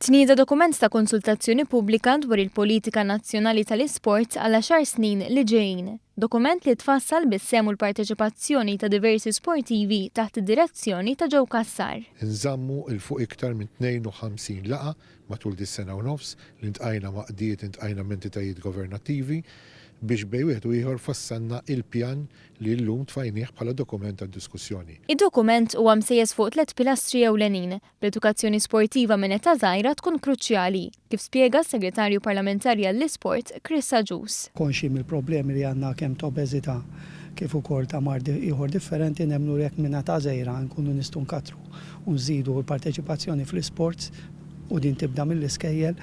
Tnieda dokument ta' konsultazzjoni pubblika dwar il-politika nazzjonali tal-isport għal għaxar snin li ġejjin. Dokument li tfassal bis-sehem u l-parteċipazzjoni ta' diversi sportivi taħt id-direzzjoni ta' Joe Cassar. Inżammu 'l fuq iktar minn 52 laqgħa matul dis-sena u nofs li ltqajna m'għaqdiet, iltqajna m'entitajiet governattivi biex bejn wieħed u ieħor fassalna il-pjan li llum tfajnih bħala dokument għad-diskussjoni. Id-dokument huwa msejjes fuq tliet pilastri ewlenin, bl-edukazzjoni sportiva minn età żgħira tkun kruċjali, kif spjega s-Segretarju Parlamentari għall-Isport, Chris Agius. Konxji mill-problemi li għandna kemm ta' obeżità kif ukoll ta' mard ieħor differenti, nemmnu li jekk minn età żgħira nkunu nistgħu nkattru u nżidu l-parteċipazzjoni fl-isports, u din tibda mill-iskejjel,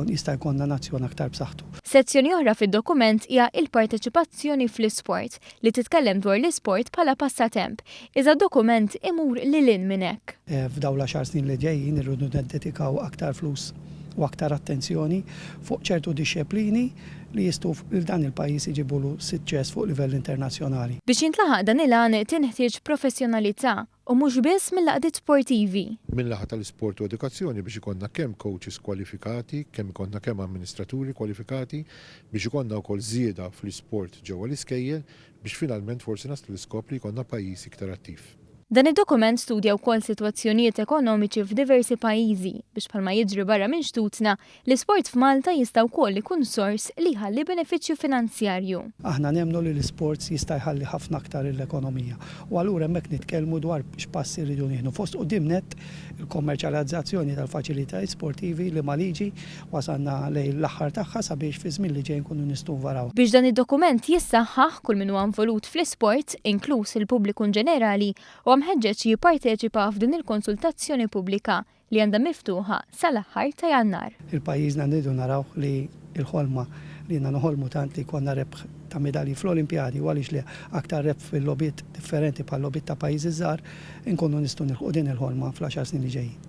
jista' jkollna nazzjon aktar b'saħħtu. Sezzjoni oħra fid-dokument hija Il-Parteċipazzjoni fl-Isport, li titkellem dwar l-isport bħala passatemp, iżda d-dokument imur lil hinn minn hekk. F'dawn l-għaxar snin li ġejjin irridu niddedikaw aktar flus u aktar attenzjoni fuq ċertu dixxeplini li jistgħu lil dan il-pajjiż iġibulu siċċess fuq livell internazzjonali. Biex jintlaħaq dan il-għan tinħtieġ professjonalità U mhux biss mill-għaqdiet sportivi. Min-naħa tal-isport u edukazzjoni biex ikollna kemm coaches kwalifikati, kemm ikollna kemm amministraturi kwalifikati, biex ikollna wkoll żieda fl-isport ġewwa l-iskejjel, biex finalment forsi naslu l-iskop li jkollna pajjiż iktar attiv. Dan id-dokument studja wkoll sitwazzjonijiet ekonomiċi f'diversi pajjiżi, biex bħalma jiġri barra minn xtutna, L-isport f'Malta jista' wkoll ikun sors li jħalli benefiċċju finanzjarju. Aħna nemmnu li l-isports jista' jħalli ħafna aktar lill-ekonomija u allura hemmhekk nitkellmu dwar x'passi rridu nieħdu. Fost quddiem nett, il-kommerċjalizzazzjoni tal-faċilitajiet sportivi liema liġi wasalna lejn l-aħħar tagħha sabiex fiż-żmien li ġej nkunu nistgħu nvarawha. Biex dan id-dokument jissaħħaħ, kull min huwa involut fl-isport, inkluż il-pubbliku inġenerali, huwa mħeġġeġ jipparteċipa f'din il-konsultazzjoni pubblika. li għandha miftuħa sal-aħħar ta' Jannar. Il-pajjiżna nridu narawh li l-ħolma li ilna noħolmu tant li jkollna rebħ ta' midalji fl-Olimpjadi u għaliex le aktar rebħ fil-logħbiet differenti bħal-logħbiet ta' pajjiżi żgħar, inkunu nistgħu nilħqu din il-ħolma fl-għaxar snin li ġejjin.